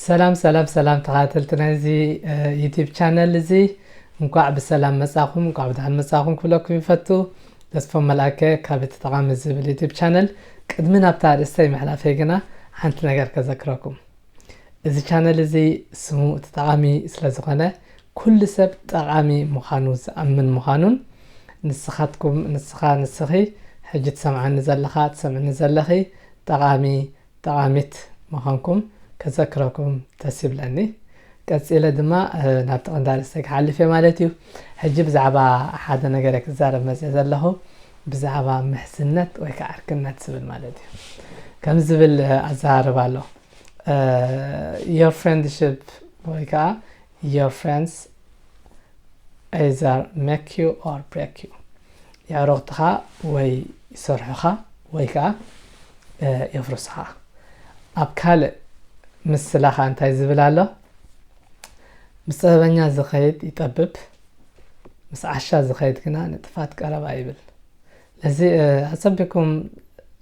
ሰላም ሰላም ሰላም ተኸታተልቲ ናይዚ ዩቲብ ቻነል እዚ እንኳዕ ብሰላም መፃኹም እንኳዕ ብድሓን መፃኹም ክብለኩም ይፈቱ ተስፎ መልኣከ ካብ እቲ ጠቓሚ ዝብል ዩቲብ ቻነል ቅድሚ ናብታ ኣርእስተይ ምሕላፈይ ግና ሓንቲ ነገር ከዘክረኩም እዚ ቻነል እዚ ስሙ እቲ ጠቓሚ ስለ ዝኾነ ኩሉ ሰብ ጠቓሚ ምዃኑ ዝኣምን ምዃኑን ንስኻትኩም ንስኻ ንስኺ ሕጂ ትሰምዓኒ ዘለኻ ትሰምዕኒ ዘለኺ ጠቓሚ ጠቓሚት ምዃንኩም ከዘክረኩም ደስ ይብለኒ። ቀጺለ ድማ ናብቲ ቀንዲ ኣርእስተይ ክሓልፍ እየ ማለት እዩ። ሕጂ ብዛዕባ ሓደ ነገረ ክዛረብ መጺኤ ዘለኹ ብዛዕባ ምሕዝነት ወይ ከኣ ዕርክነት ዝብል ማለት እዩ ከምዚ ዝብል ኣዘራርባ ኣሎ your friendship ወይ ከኣ your friends either make you or break you የዕሩኽትኻ ወይ ይሰርሑኻ ወይ ከኣ የፍርስኻ ኣብ ካልእ ምስላኻ እንታይ ዝብል ኣሎ ምስ ጥበበኛ ዝኸይድ ይጠብብ ምስ ዓሻ ዝኸይድ ግና ንጥፋት ቀረባ ይብል ለዚ ኣጸቢኩም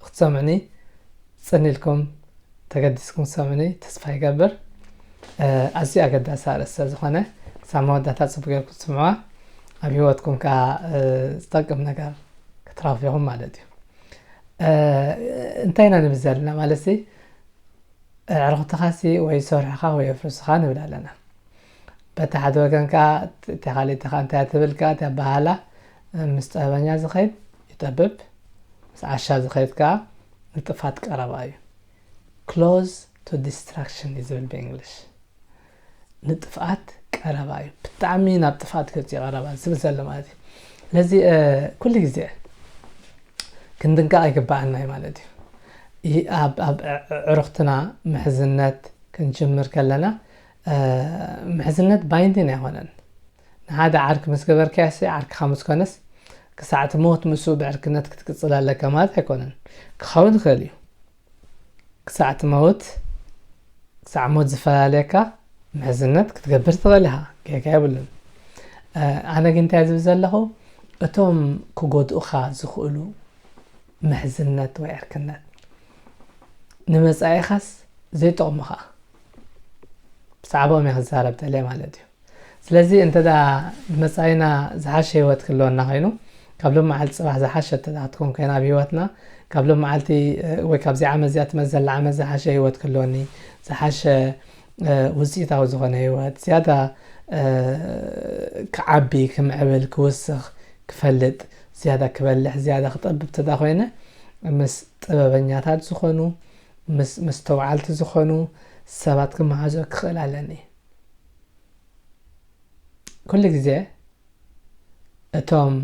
ክትሰምዑኒ ጽኒልኩም ተገዲስኩም ሰምኒ ተስፋ ይገብር ኣዝዩ ኣገዳሲ ኣርእስቲ ዝኾነ ክሳብ መወዳእታ ፅቡቅ ጌርኩም ትስምዑዋ ኣብ ሂወትኩም ከዓ ዝጠቅም ነገር ክትረኽቡ ኢኹም ማለት እዩ እንታይ ኢና ንብል ዘለና ማለት ኣዕርኽትኻሲ ወይ ሶርሕኻ ወይ ኣፍርስኻ ንብል ኣለና። በቲ ሓደ ወገን ከኣ እታ ካልእቲ ከኣ እንታይ ትብል ከኣ እቲ ኣበሃህላ ምስ ጥበበኛ ዝኸይድ ይጠብብ ምስ ዓሻ ዝኸይድ ከኣ ንጥፋት ቀረባ እዩ። ክሎዝ ቱ ዲስትራክሽን እዩ ዝብል ብእንግሊሽ። ንጥፍኣት ቀረባ እዩ ብጣዕሚ ናብ ጥፍኣት ገፅ ቀረባ ዝብል ዘሎ ማለት እዩ ለዚ ኩሉ ግዜ ክንድንቀቕ ይግባኣና እዩ ማለት እዩ ኣብ ዕሩኽትና ምሕዝነት ክንጅምር ከለና ምሕዝነት ባይንዲን ኣይኮነን ንሓደ ዓርኪ ምስ ገበርካያሲ ዓርክኻ ምስ ኮነስ ክሳዕ እቲ ሞት ምስኡ ብዕርክነት ክትቅፅል ኣለካ ማለት ኣይኮነን ክኸውን ይኽእል እዩ ክሳዕ ትመውት ክሳዕ ሞት ዝፈላለየካ ምሕዝነት ክትገብር ትኽእል ኢኻ ጌጋ የብሉን ኣነ ግን እንታይ ዝብል ዘለኹ እቶም ክጎድኡኻ ዝኽእሉ ምሕዝነት ወይ ዕርክነት ንመጻኢኻስ ዘይጠቕሙ ኸዓ ብዛዕባኦም እየ ክዛረብ ደልየ ማለት እዩ ስለዚ እንተ ንመጻኢና ዝሓሸ ህይወት ክህልወና ኮይኑ ካብ ሎም መዓልቲ ጽባሕ ዝሓሸት እንተ ክትኮን ኮይና ኣብ ህይወትና ካብ ሎም መዓልቲ ወይ ካብዚ ዓመት እዚኣ ትመጽእ ዘላ ዓመት ዝሓሸ ህይወት ክህልወኒ ዝሓሸ ውጽኢታዊ ዝኾነ ህይወት ዝያዳ ክዓቢ ክምዕብል ክውስኽ ክፈልጥ ዝያዳ ክበልሕ ዝያዳ ክጠብብ እንተ ኮይነ ምስ ጥበበኛታት ዝኾኑ ምስ መስተውዓልቲ ዝኾኑ ሰባት ክመሃዞ ክኽእል ኣለኒ ኩሉ ግዜ እቶም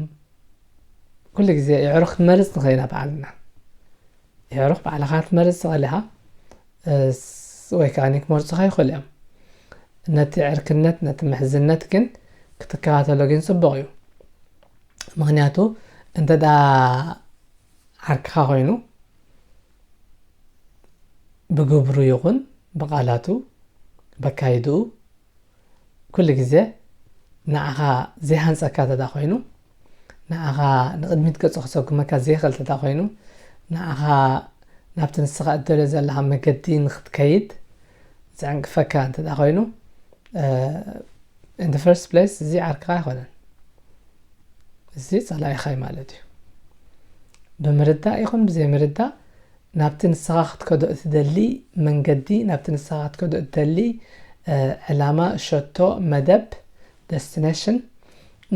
ኩሉ ግዜ የዕሩኽ ክንመርጽ ንኽእል ኢና ባዕልና የዕሩኽ ባዕልኻ ክትመርጽ ትኽእል ኢኻ ወይ ከዓ ክመርጹኻ ይኽእሉ እዮም ነቲ ዕርክነት ነቲ ምሕዝነት ግን ክትከታተሎ ግን ጽቡቕ እዩ ምክንያቱ እንተ ዓርክኻ ኮይኑ ብግብሩ ይኹን ብቓላቱ በካይድኡ ኩሉ ግዜ ንዓኻ ዘይሃንጸካ ተዳ ኮይኑ ንዓኻ ንቕድሚት ገጹ ክሰጉመካ ዘይኽእል ተዳ ኮይኑ ንዓኻ ናብቲ ንስኻ እደልዮ ዘለኻ መገዲ ንክትከይድ ዝዕንቅፈካ እንተዳ ኮይኑ in the first place እዚ ዓርክኻ ኣይኮነን እዚ ጸላኢኻ እዩ ማለት እዩ ብምርዳእ ይኹን ብዘይምርዳእ ናብቲ ንስኻ ክትከዶ እትደሊ መንገዲ ናብቲ ንስኻ ክትከዶ እትደሊ ዕላማ ሸቶ መደብ ደስቲነሽን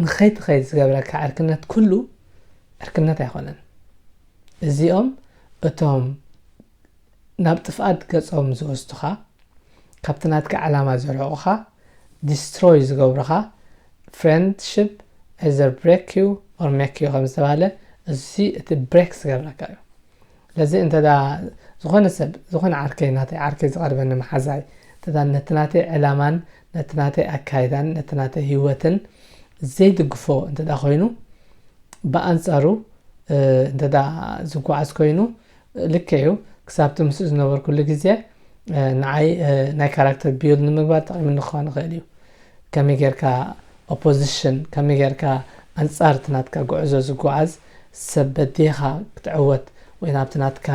ንኸይትኸይድ ዝገብረካ ዕርክነት ኩሉ ዕርክነት ኣይኮነን እዚኦም እቶም ናብ ጥፍኣት ገጾም ዝወስዱኻ፣ ካብቲ ናትካ ዕላማ ዘርሕቑኻ፣ Destroy፣ ዝገብሩኻ፣ Friendship either break you or make you ከምዝተባህለ እዚ እቲ Break ዝገብረካ እዩ። ስለዚ እንተ ዝኾነ ሰብ ዝኾነ ዓርከይ ናተይ ዓርከይ ዝቐርበኒ መሓዛይ እንተ ነቲ ናተይ ዕላማን ነቲ ናተይ ኣካይዳን ነቲ ናተይ ህይወትን ዘይድግፎ እንተ ኮይኑ ብኣንጻሩ እንተ ዝጓዓዝ ኮይኑ ልክዕ እዩ ክሳብቲ ምስ ዝነበርኩሉ ግዜ ንዓይ ናይ ካራክተር ቢልድ ንምግባር ጠቂሙኒ ክኸውን ይኽእል እዩ ከመይ ጌርካ ኦፖዚሽን ከመይ ጌርካ ኣንጻር እቲ ናትካ ጉዕዞ ዝጓዓዝ ሰብ በዲኻ ክትዕወት ወይ ናብቲ ናትካ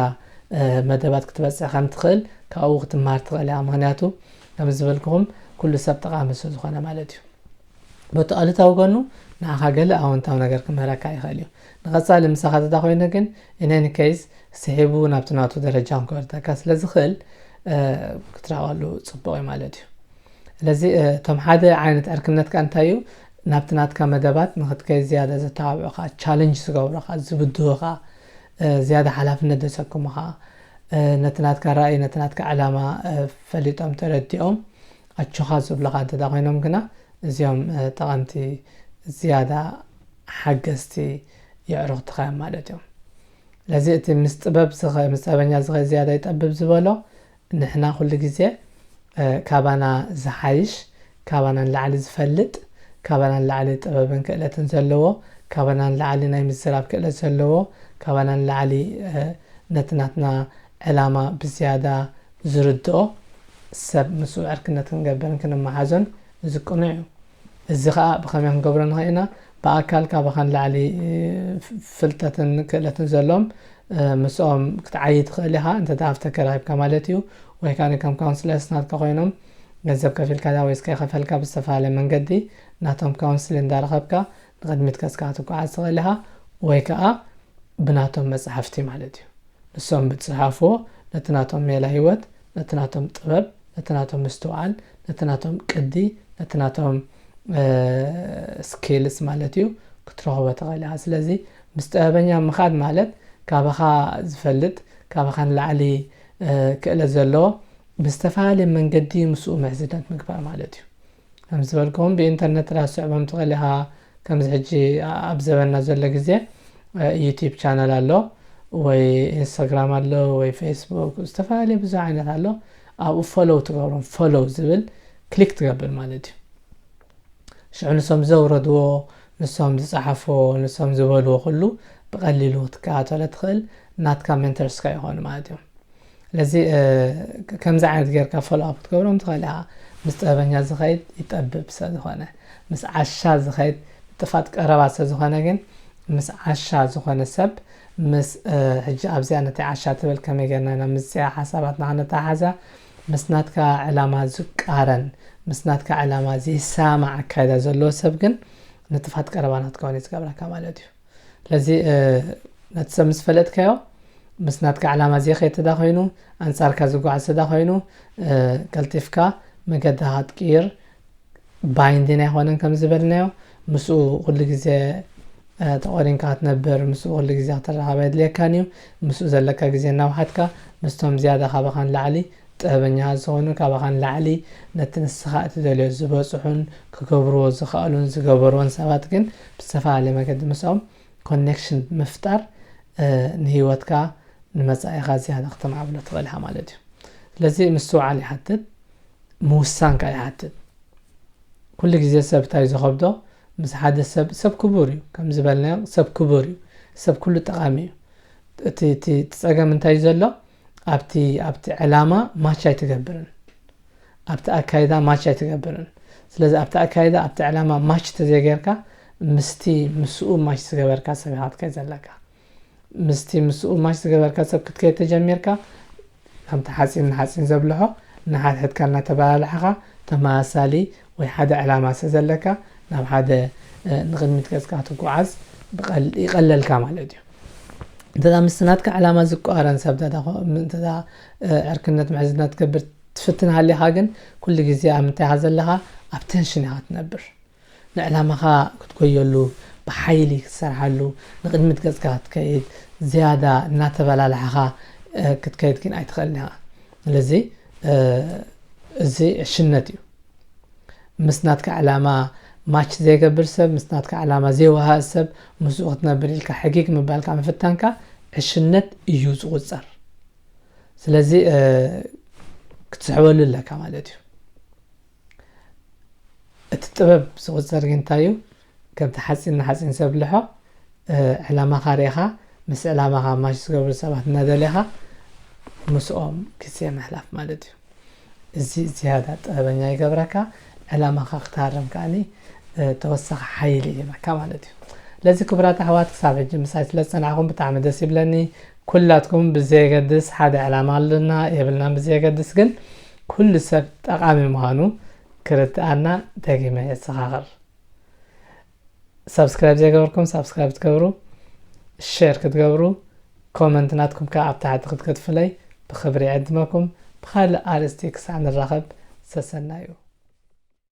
መደባት ክትበጽሕ ከም ትኽእል ካብኡ ክትመሃር ትኽእል እያ ምክንያቱ ከም ዝበልክኹም ኩሉ ሰብ ጠቃሚ ስለ ዝኾነ ማለት እዩ በቲ ኣሉታዊ ጎኑ ንዓኻ ገለ ኣወንታዊ ነገር ክምህረካ ይኽእል እዩ ንቐጻሊ ምሳኻ ተተኾይነ ግን in any case ስሒቡ ናብቲ ናቱ ደረጃ ክወርደካ ስለ ዝኽእል ክትራቐሉ ጽቡቕ እዩ ማለት እዩ ስለዚ እቶም ሓደ ዓይነት ዕርክነት ከ እንታይ እዩ ናብቲ ናትካ መደባት ንክትከይ ዝያዳ ዘተባብዑኻ ቻለንጅ ዝገብሩኻ ዝብድሁኻ ዝያዳ ሓላፍነት ዘሰክሙኻ ነቲ ናትካ ራእይ ነቲ ናትካ ዕላማ ፈሊጦም ተረዲኦም ኣጆኻ ዝብሉኻ እንተ ኮይኖም ግና፣ እዚኦም ጠቐምቲ ዝያዳ ሓገዝቲ የዕሩኽትኻ እዮም ማለት እዮም። ስለዚ እቲ ምስ ጥበብ ዝኸ ምስ ጠበኛ ዝኸ ዝያዳ ይጠብብ ዝበሎ ንሕና ኩሉ ግዜ ካባና ዝሓይሽ፣ ካባና ንላዕሊ ዝፈልጥ፣ ካባና ንላዕሊ ጥበብን ክእለትን ዘለዎ፣ ካባና ንላዕሊ ናይ ምዝራብ ክእለት ዘለዎ፣ ካባና ንላዕሊ ነቲ ናትና ዕላማ ብዝያዳ ዝርድኦ ሰብ ምስኡ ዕርክነት ክንገብርን ክንመሓዞን እዚ ቅኑዕ እዩ። እዚ ከኣ ብኸመይ ክንገብሮ ንኽእል ኢና? ብኣካል ካባኻ ንላዕሊ ፍልጠትን ክእለትን ዘለዎም ምስኦም ክትዓዪ ትኽእል ኢኻ፣ እንተ ደኣ ሃፍቲ ኣከራኺብካ ማለት እዩ። ወይ ከኣ ከም ካውንስለርስ ናትካ ኮይኖም ገንዘብ ከፊልካ ድኣ ወይስ ከይከፈልካ ብዝተፈላለየ መንገዲ ናቶም ካውንስሊን እንዳረኸብካ ንቕድሚት ቀስካ ትጓዓዝ ትኽእል ኢኻ ወይ ከኣ ብናቶም መጽሓፍቲ ማለት እዩ ንሶም ብዝጸሓፍዎ ነቲ ናቶም ሜላ ህይወት ነቲ ናቶም ጥበብ ነቲ ናቶም ምስትውዓል ነቲ ናቶም ቅዲ ነቲ ናቶም ስኪልስ ማለት እዩ ክትረኽቦ ትኽእል ኢኻ ስለዚ ምስ ጥበበኛ ምኻድ ማለት ካባኻ ዝፈልጥ ካባኻ ንላዕሊ ክእለት ዘለዎ ብዝተፈላለየ መንገዲ ምስኡ ምሕዝነት ምግባር ማለት እዩ ከም ዝበልክዎም ብኢንተርነት ጥራይ ክትስዕቦም ትኽእል ኢኻ። ከምዚ ሕጂ ኣብ ዘበንና ዘሎ ግዜ ዩቲብ ቻነል ኣሎ ወይ ኢንስታግራም ኣሎ ወይ ፌስቡክ ዝተፈላለየ ብዙሕ ዓይነት ኣሎ። ኣብኡ ፎሎው ትገብሮም ፎሎው ዝብል ክሊክ ትገብር ማለት እዩ። ሽዑ ንሶም ዘውረድዎ ንሶም ዝጸሓፍዎ ንሶም ዝበልዎ ኩሉ ብቐሊሉ ክትከታተሎ ትኽእል ናትካ ሜንተርስካ ይኾኑ ማለት እዮም። ስለዚ ከምዚ ዓይነት ጌርካ ፎሎ ኣፕ ክትገብሮም ትኽእል ኢኻ ምስ ጥበበኛ ዝኸይድ ይጠብብ ስለዝኾነ ምስ ዓሻ ዝኸይድ ጥፋት ቀረባ ስለዝኾነ ግን ምስ ዓሻ ዝኾነ ሰብ ምስ ሕጂ ኣብዚኣ ነቲ ዓሻ ትብል ከመይ ጌርና ኢና ምስዚኣ ሓሳባትና ክነተሓሓዛ ምስ ናትካ ዕላማ ዝቃረን ምስ ናትካ ዕላማ ዘይሰማዕ ኣካይዳ ዘለዎ ሰብ ግን ንጥፋት ቀረባ ንክትከውን እዩ ዝገብረካ ማለት እዩ ስለዚ ነቲ ሰብ ምስ ፈለጥካዮ ምስ ናትካ ዕላማ ዘይኸይድ ተዳ ኮይኑ ኣንጻርካ ዝጓዓዝ ተዳ ኮይኑ ቀልጢፍካ መገድኻ ክትቅይር ባይንዲን ኣይኮነን ከም ዝበልናዮ ምስኡ ኩሉ ግዜ ተቆሪንካ ክትነብር ምስኡ ኩሉ ግዜ ክትራኸብ የድልየካን እዩ ምስኡ ዘለካ ግዜ እናውሓትካ ምስቶም ዝያዳ ካባኻ ንላዕሊ ጥበበኛ ዝኾኑ ካባኻ ንላዕሊ ነቲ ንስኻ እትደልዮ ዝበጽሑን ክገብርዎ ዝኸእሉን ዝገበርዎን ሰባት ግን ብዝተፈላለየ መገዲ ምስኦም ኮኔክሽን ብምፍጣር ንህይወትካ ንመጻኢኻ ዝያዳ ክተማዕብሎ ትኽእል ኢኻ ማለት እዩ ስለዚ ምስትውዓል ይሓትት ምውሳን ከዓ ይሓትት ኩሉ ግዜ ሰብ እንታይ እዩ ዝኸብዶ ምስ ሓደ ሰብ ሰብ ክቡር እዩ ከም ዝበልናዮ ሰብ ክቡር እዩ ሰብ ኩሉ ጠቓሚ እዩ እቲ እቲ ፀገም እንታይ እዩ ዘሎ ኣብቲ ኣብቲ ዕላማ ማች ኣይትገብርን ኣብቲ ኣካይዳ ማች ኣይትገብርን ስለዚ ኣብቲ ኣካይዳ ኣብቲ ዕላማ ማች ተዘይገርካ ምስቲ ምስኡ ማች ዝገበርካ ሰብ ኢኻ ክትከይድ ዘለካ ምስቲ ምስኡ ማች ዝገበርካ ሰብ ክትከይድ ተጀሚርካ ከምቲ ሓፂን ንሓፂን ዘብልሖ ንሓድሕድካ እናተበላልዕኻ ተመሳሳሊ ወይ ሓደ ዕላማ ስለ ዘለካ ናብ ሓደ ንቕድሚት ገጽካ ትጓዓዝ ይቐለልካ ማለት እዩ እንተዛ ምስ ናትካ ዕላማ ዝቋረን ሰብ እንተዛ ዕርክነት ምሕዝነት ትገብር ትፍትን ሃሊኻ ግን ኩሉ ግዜ ኣብ ምንታይ ኢኻ ዘለኻ ኣብ ቴንሽን ኢኻ ትነብር ንዕላማኻ ክትጎየሉ ብሓይሊ ክትሰርሓሉ ንቕድሚት ገጽካ ክትከይድ ዝያዳ እናተበላላሕኻ ክትከይድ ግን ኣይትኽእልን ኢኻ ስለዚ እዚ ዕሽነት እዩ ምስ ናትካ ዕላማ ማች ዘይገብር ሰብ ምስ ናትካ ዕላማ ዘይወሃእ ሰብ ምስኡ ክትነብር ኢልካ ሕጊግ ምባልካ ምፍታንካ ዕሽነት እዩ ዝቁፀር ስለዚ ክትስሕበሉ ኣለካ ማለት እዩ እቲ ጥበብ ዝቁፀር ግን እንታይ እዩ ከምቲ ሓጺን ንሓጺን ሰብ ልሖቕ ዕላማኻ ርኢኻ ምስ ዕላማኻ ማች ዝገብሩ ሰባት እናደሌኻ ምስኦም ግዜ ምሕላፍ ማለት እዩ እዚ ዝያዳ ጥበበኛ ይገብረካ ዕላማኻ ክትሃርም ከዓኒ ተወሳኺ ሓይሊ ይህበካ ማለት እዩ ለዚ ክቡራት ኣሕዋት ክሳብ ሕጂ ምሳይ ስለ ዝጸናዕኹም ብጣዕሚ ደስ ይብለኒ ኩላትኩም ብዘየገድስ ሓደ ዕላማ ኣለና የብልና ብዘየገድስ ግን ኩሉ ሰብ ጠቓሚ ምዃኑ ክርድኣና ደጊመ የዘኻኽር ሳብስክራይብ ዘይገበርኩም ሳብስክራይብ ትገብሩ ሸር ክትገብሩ ኮመንት ናትኩም ከዓ ኣብ ታሕቲ ክትከትፍለይ ብክብሪ ዕድመኩም ብካልእ ኣርእስቲ ክሳዕ ንራኸብ ሰሰናዩ